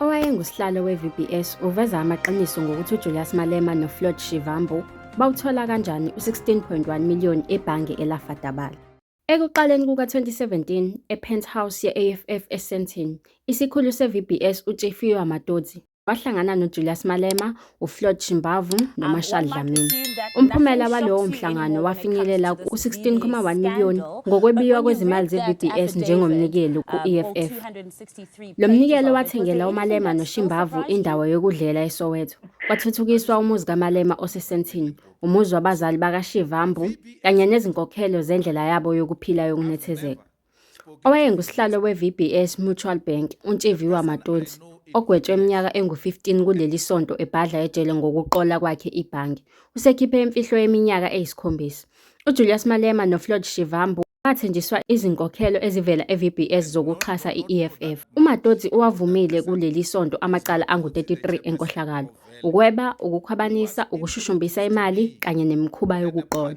Owayengusihlalo we-VBS uveza amaqiniso ngokuthi uJulius Malema noFloyd Shivambu bawuthola kanjani u-16.1 million ebhange elafadabala. Ekuqaleni kuka-2017, e-penthouse ye-AFF eSandton, isikhulu se-VBS uTshefiwa Matodzi wahlangana noJulius Malema, uFloyd Shimbavu noMarshall Dlamini. Umphumela walowo mhlangano wafinyelela ku-16.1 miliyoni ngokwebiywa kwezimali ze-VBS njengomnikelo ku-EFF. Lo mnikelo wathengela uMalema noShimbavu indawo yokudlela eSoweto, kwathuthukiswa umuzi kaMalema oseSandton, umuzi wabazali bakaShivambu kanye nezinkokhelo zendlela yabo yokuphila yokunethezeka. Owayengusihlalo we-VBS Mutual Bank, uNtshiviwa Matonsi, ogwetshwe iminyaka engu-15 kuleli sonto ebhadla ejele ngokuqola kwakhe ibhange, usekhiphe imfihlo yeminyaka eyisikhombisa. UJulius Malema noFloyd Shivambu bathenjiswa izinkokhelo ezivela e-VBS zokuxhasa i-EFF. UMatotsi uwavumile kuleli sonto amacala angu-33 enkohlakalo, ukweba, ukukhwabanisa, ukushushumbisa imali kanye nemikhuba yokuqola.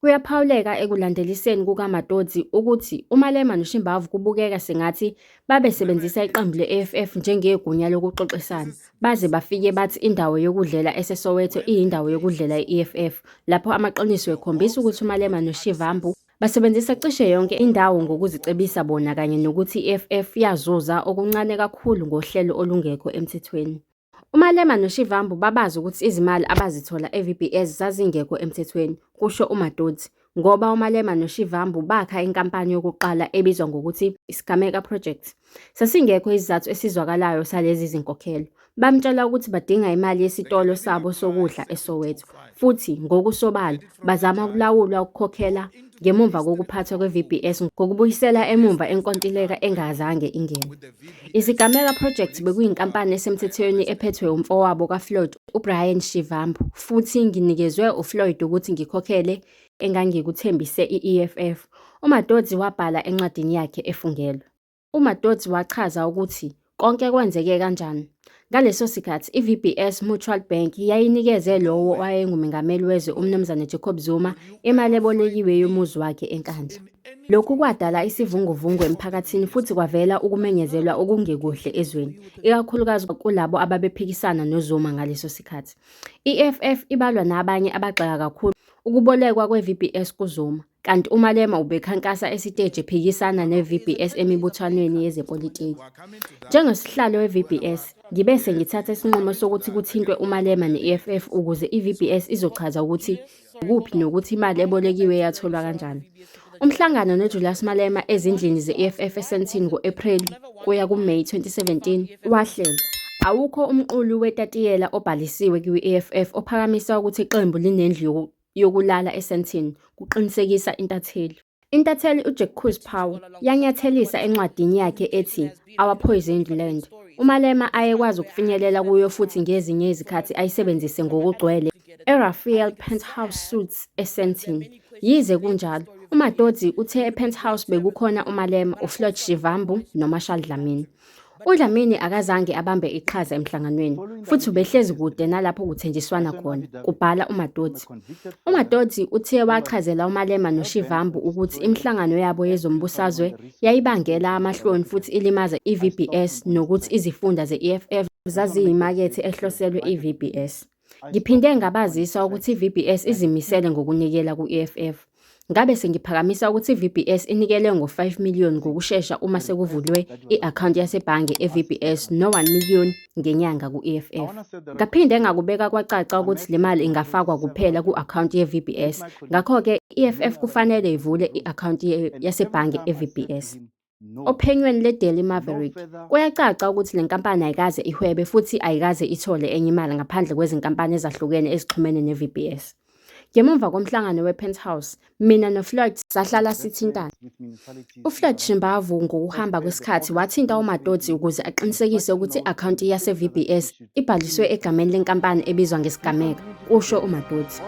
Kuyaphawuleka ekulandeliseni kukaMatodzi ukuthi uMalema noShimbavu kubukeka sengathi babesebenzisa iqembu le-EFF njengegunya lokuxoxisana baze bafike bathi indawo yokudlela eseSoweto iyindawo yokudlela i-EFF lapho amaqiniso ekhombisa ukuthi uMalema noShivambu basebenzisa cishe yonke indawo ngokuzicebisa bona kanye nokuthi i-EFF yazuza okuncane kakhulu ngohlelo olungekho emthethweni. UMalema noShivambu babazi ukuthi izimali abazithola eVBS zazingekho emthethweni, kusho uMadoti, ngoba uMalema noShivambu bakha inkampani yokuqala ebizwa ngokuthi iSigameka Project. Sasingekho isizathu esizwakalayo salezi zinkokhelo. Bamtshela ukuthi badinga imali yesitolo sabo sokudla eSoweto, futhi ngokusobala bazama ukulawulwa ukukhokhela ngemuva kokuphathwa kwe-VBS ngokubuyisela emumva enkontileka engazange ingene. Isigameka Project bekuyinkampani esemthethweni ephethwe umfowabo kaFloyd, uBrian Shivambu, futhi nginikezwe uFloyd ukuthi ngikhokhele engangikuthembise i-EFF, uMadodzi wabhala encwadini yakhe efungelwe. UMadodzi wachaza ukuthi konke kwenzeke kanjani. Ngaleso sikhathi i-VBS Mutual Bank yayinikeze lowo owayengumengameli wezwe uMnumzane Jacob Zuma imali ebolekiwe yomuzi wakhe eNkandla. Lokhu kwadala isivunguvungu emphakathini futhi kwavela ukumenyezelwa okungekuhle ezweni, ikakhulukazi kulabo ababephikisana noZuma ngaleso sikhathi. I-EFF ibalwa nabanye abagxeka kakhulu ukubolekwa kwe-VBS kuZuma. kanti uMalema ubekhankasa esiteji ephikisana ne-VBS emibuthwanweni yezepolitiki. Njengosihlalo we-VBS, ngibe sengithatha isinqumo sokuthi kuthintwe uMalema ne-EFF ukuze i-VBS izochaza ukuthi kuphi nokuthi imali ebolekiwe yatholwa kanjani. Umhlangano noJulius Malema ezindlini ze-EFF eSandton ngo-Ephreli kuya kuMeyi 2017 wahlelwa. Awukho umqulu wetatiyela obhalisiwe kwi-EFF ophakamisa ukuthi iqembu linendlu yokulala eSandton kuqinisekisa intatheli. Intatheli uJack Kurzpau yanyathelisa encwadini yakhe ethi Our Poisoned Land. UMalema ayekwazi ukufinyelela kuyo futhi ngezinye izikhathi ayisebenzise ngokugcwele eRaphael Penthouse Suites eSandton. Yize kunjalo, uMatodzi uthe ePenthouse bekukhona uMalema, uFloyd Shivambu noMarshall Dlamini. UDlamini akazange abambe iqhaza emhlanganweni futhi ubehlezi kude nalapho kuthenjiswana khona, kubhala uMatoti. UMatoti uthe wachazela uMalema noShivambu ukuthi imihlangano yabo yezombusazwe yayibangela amahloni futhi ilimaza i-VBS nokuthi izifunda ze-EFF zaziyimakethe ehloselwe i-VBS. Ngiphinde ngabazisa ukuthi iVBS izimisele ngokunikela ku-EFF. Ngabe sengiphakamisa ukuthi iVBS inikele ngo-5 million ngokushesha uma sekuvulwe i-akhawunti yasebhange eVBS no-1 million ngenyanga ku-EFF. Ngaphinde ngakubeka kwacaca ukuthi le mali ingafakwa kuphela ku-akhawunti yeVBS, ngakho-ke i-EFF kufanele ivule i-akhawunti yasebhange eVBS. Ophenyweni le-Daily Maverick, kuyacaca ukuthi le nkampani ayikaze ihwebe futhi ayikaze ithole enye imali ngaphandle kwezinkampani ezahlukene ezixhumene ne-VBS. Ngemuva komhlangano we-Penthouse, mina noFloyd sahlala sithintana. UFloyd Shimbavu ngokuhamba kwesikhathi wathinta uMatodzi ukuze aqinisekise ukuthi i-akhawunti yase-VBS ibhaliswe egameni lenkampani ebizwa ngesigameko, kusho uMatodzi.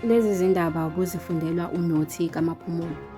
Lezi zindaba kuzifundelwa uNothi kaMaphumulo.